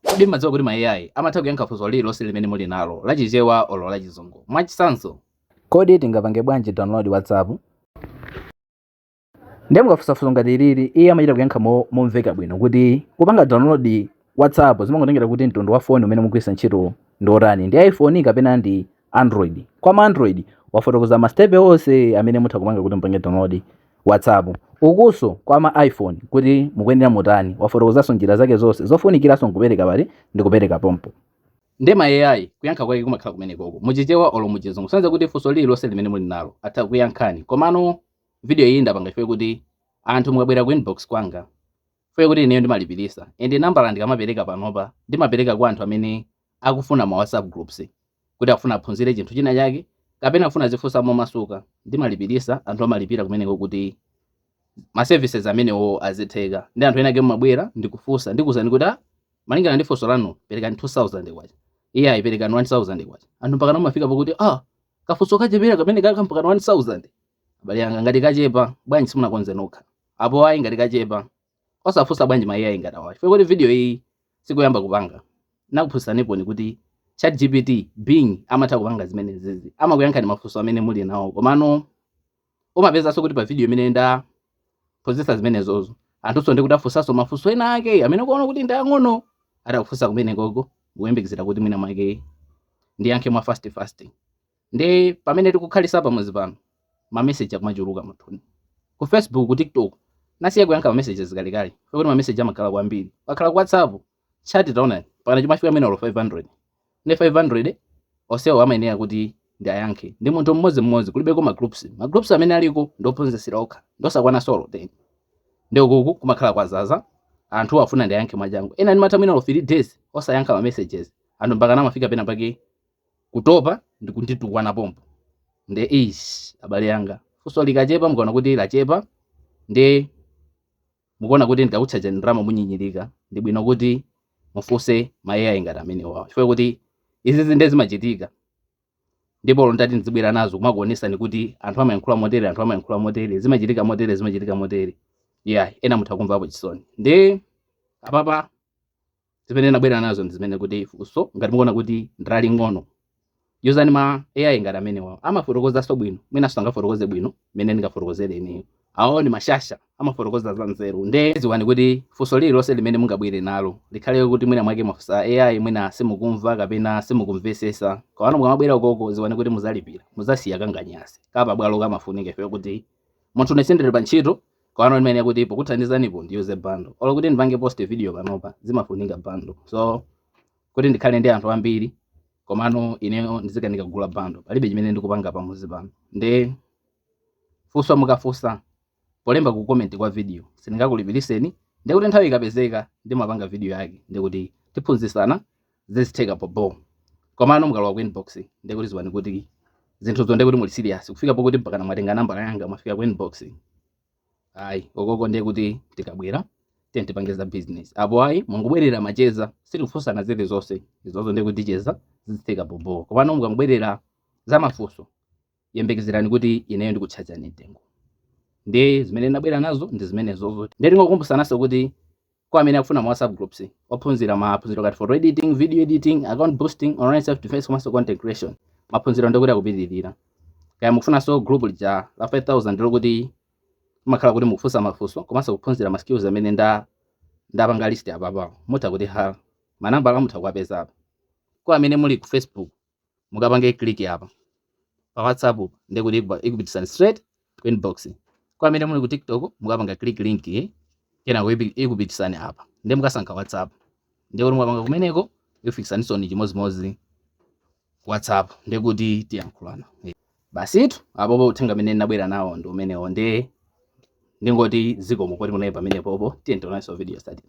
Kodi mumadziwa kuti ma AI amatha kuyankha funso lililonse limene muli nalo, la Chichewa olo la Chizungu? Mwachitsanzo. Kodi tingapange bwanji download WhatsApp? Ndiye mukafunsa funso ngati ilili, iye amachita kuyankha momveka bwino kuti, Kupanga download WhatsApp zimangotengera kuti mtundu wa foni umene mugwiritsa ntchito ndi wotani, ndi iPhone kapena ndi Android. Kwa ma Android, wafotokoza masitepe onse amene mutha kupanga kuti mupange download. whatsapp ukunso kwa ma iphone kuti mukuyenera mutani wafotokozanso njira zake zonse zofunikiranso nkupereka pali ndi kupereka pompo nde ma ai kuyankha kwake kumakhala kumenekoko muchichewa olo muchizungu kusonyeza kuti funso lililonse limene muli nalo atha kuyankhani komano video iyi ndapanga chifukwa kuti anthu mukabwera ku inbox kwanga chifukwa kuti ineyo ndimalipiritsa ende nambala ndikamapereka panopa ndimapereka kwa anthu amene akufuna ma WhatsApp groups kuti akufuna aphunzire chinthu china chake kapena akufuna azifunsa momasuka ndimalipirisa anthu amalipira kumeneko kuti ma services amenewo azitheka nde anthu ena ake mumabwera ndikufunsa ndikuuzani kuti ah, malingana ndi funso lanu perekani 2000 kwacha eya ayi perekani 1000 kwacha anthu mpaka kumafika pakuti ah kafunso kochepa kameneka mpaka 1000 abale anga ngati kachepa bwanji simunakonze nokha apo ayi ngati kachepa osafunsa bwanji ma ai ngati awa chifukwa kuti video iyi sikuyamba kupanga ndakuphunzitsaniponi kuti chat gpt bing amatha kupanga zimenezizi amakuyankhani mafunso amene muli nawo komano umapezanso kuti pa video imene ndaphunzitsa zimenezozo anthunso ndikuti afunsanso mafunso ena ake amene ukuona kuti ndi ang'ono atakufunsa kumenekoko kuyembekezera kuti mwina mwake ndiyankhe mwa fast fast nde pamene tikukhalitsa pamodzi pano ma message akumachuluka mufoni ku facebook ku tiktok ndasiya kuyankha ma messages kalekale chifukwa kuti ma message amakhala kwambiri akhala ku whatsapp chat taonani mpakana zimafika mwina olo 500 nde 500 onsewo amayenera kuti ndiayankhe ndi munthu mmodzi mmodzi kulibeko ma groups ma groups amene aliko ndi ophunzitsira okha ndi osakwanaso olo 10 nde ukuku kumakhala kwadzadza anthu afuna ndiayankhe mwachangu ena ndimatha mwina olo 3 days osayankha ma messages anthu mpaka amafika pena pake kutopa ndi kunditukwana pompo nde eis abale anga funso likachepa mukaona kuti lachepa nde mukuona kuti ndikakutchajani ndalama munyinyirika ndi bwino kuti mufunse ma ai ngati amenewawa chifukwa kuti izizi nde zimachitika ndipo olo ndati ndizibwera nazo kumakuonesani kuti anthu amayankhula motere anthu amayankhula motere zimachitika motere zimachitika motere yeah ena mutha kumvapo chisoni nde apapa zimene ndabwera nazo ndi zimene kuti funso ngati mukuona kuti ndi laling'ono auzeni ma ai ngati amenewa amafotokozanso bwino mwina sangafotokoze bwino mmene ndingafotokozere ineyo awo ndi mashasha amafotokoza za nzeru nde ziwani kuti funso lililonse limene mungabwere nalo likhale kuti mwina mwake mafunsa ai mwina simukumva kapena simukumvesesa kawano mukamabwera ukoko ziwani kuti muzalipira muzasiya kanganyasi kapa bwalo kamafunika ife kuti munthu ine sindili pa ntchito komano ndimanena kuti pokuthandizanipo ndiyuze bando olo kuti ndipange post video panopa zimafunika bando so kuti ndikhale ndi anthu ambiri komano ineyo ndidzikanika kugula bando palibe chimene ndikupanga pamuzi pano nde funso mukafunsa polemba ku comment kwa video sindingakulipiritseni ndikuti nthawi ikapezeka ndimapanga video yake ndikuti tiphunzitsana zizitheka bobo komano mukalowa ku inbox ndiye kuti dziwani kuti zinthuzo ndiye kuti muli serious kufika pokuti mpakana mwatenga nambala yanga mwafika ku inbox ayi okoko ndiye kuti tikabwera tiye tipange za business apo ayi mungobwerera macheza sitikufunsana zili zonse izozo ndiye kuti ticheza zizitheka bobo komano mukangobwerera za mafunso yembekezerani kuti ineyo ndikutchajani mtengo ndi zimene ndinabwera nazo ndi zimenezozo ndiye tingokumbutsananso kuti kwa amene akufuna ma whatsapp groups ophunzira maphunziro ngati photo editing video editing account boosting online self defense komanso content creation maphunziro ndikuti akupitirira kaya mukufunanso group lija la 5000 lokuti kumakhala kuti mukufunsa mafunso komanso kuphunzira ma skills amene nda ndapanga list apapawo mutha kuti ha manambala mutha kuwapeza apa kwa amene muli ku facebook mukapange click apa pa WhatsApp ndi kuti ikupititsani straight ku inbox. Kwa amene muli ku TikTok mukapanga click link kenako ikupititsani apa nde mukasankha WhatsApp ndi kuti mukapanga kumeneko ikufikitsaninso chimodzimodzi WhatsApp ndi kuti tiyankhulana basitu apopo uthenga amene ndinabwera nawo ndi umenewo nde ndingoti zikomo kuti munali pamenepopo tiye tionanso video yotsatira